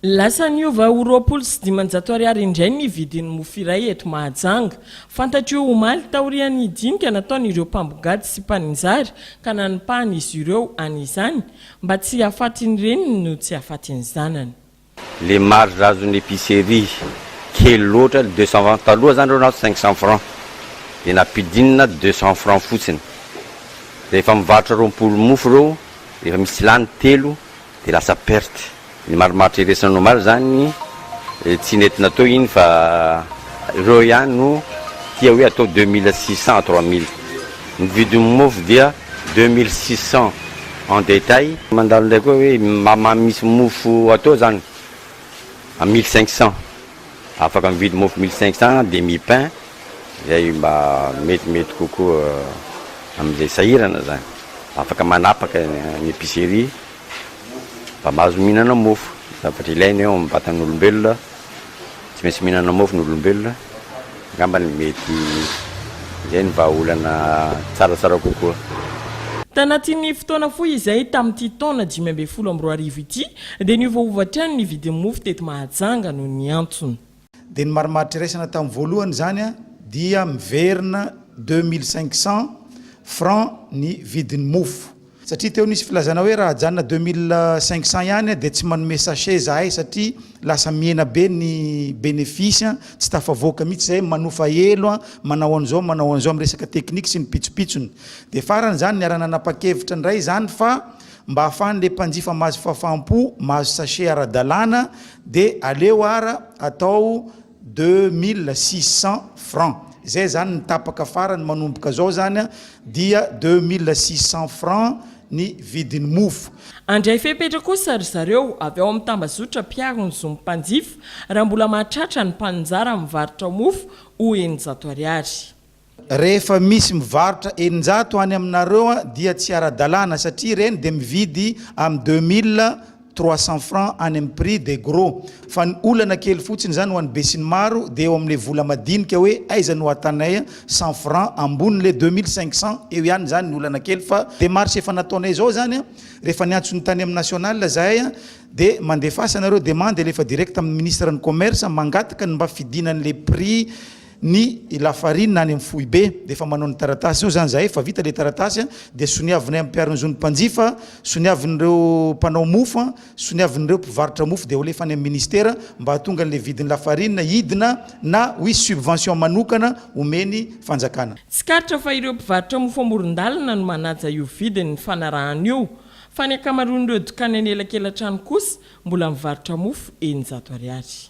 Lasa niova ho roapolo sy dimanjato ariary indray ny vidin'ny mofo iray eto Mahajanga. Fantatro io omaly taorian'ny dinika nataon'ireo mpambongady sy mpaninjary ka nanipahana izy ireo any izany mba tsy hahafatin'ny reniny no tsy hahafatin'ny zanany. Le marge azon'ny epicerie kely loatra le deux cent francs taloha zany reo nahazo cinq cent francs de nampidinina deux cent francs fotsiny rehefa mivarotra roapolo mofo reo efa misy lany telo Dia lasa perte. Ny marimaritra iresany omaly izany tsy nety natao iny fa ireo ihany no tia hoe atao deux mille six cents à trois mille. Ny vidin'ny mofo dia deux mille six cents en detail. Mandalo indray koa hoe mama misy mofo atao izany à mille cinq cents. Afaka mividy mofo mille cinq cents demi pain izay mba metimety kokoa amin'izay sahirana izany. Afaka manapaka ny epicerie mba mahazo mihinana mofo, zavatra ilaina eo amin'ny vatan'olombelona, tsy maintsy mihinana mofo ny olombelona, angambany mety izay ny vahaolana tsaratsara kokoa. Tanatin'ny fotoana fohy izay tamin'ity taona dimy ambin'ny folo amby roa arivo ity, Dia niovaova hatrany ny vidin'ny mofo teto Mahajanga noho ny antony. Dia ny marimaritra iraisana tamin'ny voalohany izany dia miverina deux mille cinq cent francs ny vidin'ny mofo. Satria teo nisy filazana hoe raha ajanona deux mille cinq cent ihany dia tsy manome sachet izahay satria lasa mihena be ny bénéfice, tsy tafavoaka mihitsy izahay, manofa elo, manao an'izao manao an'izao amin'ny resaka technique sy ny pitsopitsony. Dia farany izany niara-nanapa-kevitra indray izany fa. Mba ahafahan'ilay mpanjifa mahazo fahafaham-po mahazo sachet ara-dalàna dia aleo ara atao deux mille six cents francs. Izay izany ny tapaka farany manomboka izao izany dia deux mille six cents francs ny vidin'ny mofo. Handray fepetra kosa ry zareo avy ao amin'ny tambazotra mpiaro ny zon'ny mpanjifa raha mbola mahatratra ny mpaninjara mivarotra mofo ho eninjato ariary. Rehefa misy mivarotra eninjato any aminareo dia tsy ara-dalàna satria ireny dia mividy amin'ny deux mille trois cents francs any amin'ny prix de gros fa ny olana kely fotsiny izany ho an'ny besinimaro dia eo amin'ilay vola madinika hoe aiza no ahatanay cent francs ambony ilay deux mille cinq cents eo ihany izany ny olana kely fa demarche efa nataonay izao izany rehefa niantso ny tany amin'ny national izahay dia mandefasa nareo demande alefa direct amin'ny ministre ny commerce mangataka ny mba fidina an'ilay prix ny Lafarina any amin'ny foibe dia efa manao ny taratasy eo izany izahay fa vita ilay taratasy dia soniavinay amin'ny mpiaro ny zon'ny mpanjifa, soniavin'ireo mpanao mofo, soniavin'ireo mpivarotra mofo dia holefa any amin'ny ministera mba hahatonga an'ilay vidin'ny lafarina hidina na hoisy subvention manokana omen'ny fanjakana. Tsikaritra fa ireo mpivarotra mofo amoron-dalana no manaja io vidin'ny fanarahana io fa ny ankamaroan'ireo dokany an'elakela-trano kosa mbola mivarotra mofo eninjato ariary.